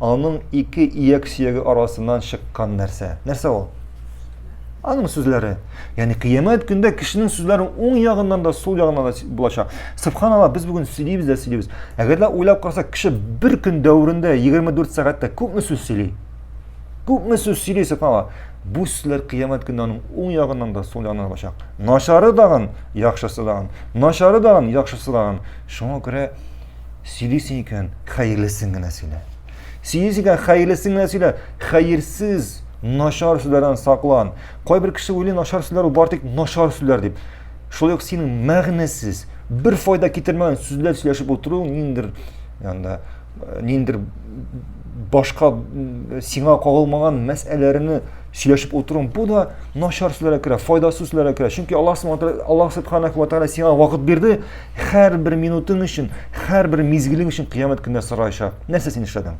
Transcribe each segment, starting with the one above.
аның ике ияк сөяге арасыннан чыккан нәрсә. Нәрсә ул? Аның сүзләре. Яни кыямәт көндә кешенең сүзләре уң ягыннан да, сул ягыннан да булачак. Субханалла, без бүген сөйлибез дә сөйлибез. Әгәр дә уйлап карасак, кеше бер көн дәверендә 24 сәгатьтә күпме сүз сөйли? Күпме сүз сөйли, субханалла? Бу сүзләр кыямәт көндә аның уң ягыннан да, сул ягыннан да булачак. Начары дагын, яхшысы дагын. Начары дагын, яхшысы дагын. Шуңа күрә Сөйлисең икән, хәерлесен генә сөйлә. Сөйлисең икән, хәерлесен генә сөйлә. Хәерсез, начар сүзләрдән саклан. Кайбер кеше уйлый, начар сүзләр ул бары тик начар сүзләр дип. Шулай ук синең мәгънәсез, бер файда китермәгән сүзләр сөйләшеп утыру ниндер янда э, ниндер башка сиңа кагылмаган мәсьәләләрне сөйләшеп утыру бу да начар сүзләргә керә, файдасыз сүзләргә керә. Чөнки Аллаһ Аллаһ Субханаһу ва Тәгалә сиңа вакыт бирде, Һәрбер минутың өчен, һәрбер мизгелең өчен кыямәт көндә сораячак. Нәрсә син эшләдең?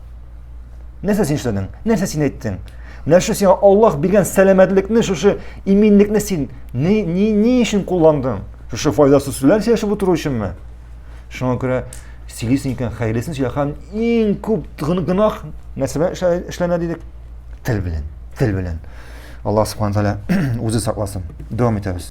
Нәрсә син эшләдең? Нәрсә син әйттең? Менә шушы сиңа Аллаһ биргән сәламәтлекне, шушы иминлекне син ни, ни, ни өчен кулландың? Шушы файдасыз сүзләр сөйләшеп утыру өченме? Шуңа күрә сөйлисең икән, хәерлесен сөйлә. Һәм иң күп гөнаһ нәрсә белән эшләнә дидек? Тел белән. Тел белән. Аллаһ субхана тәгалә үзе сакласын. Дәвам итәбез.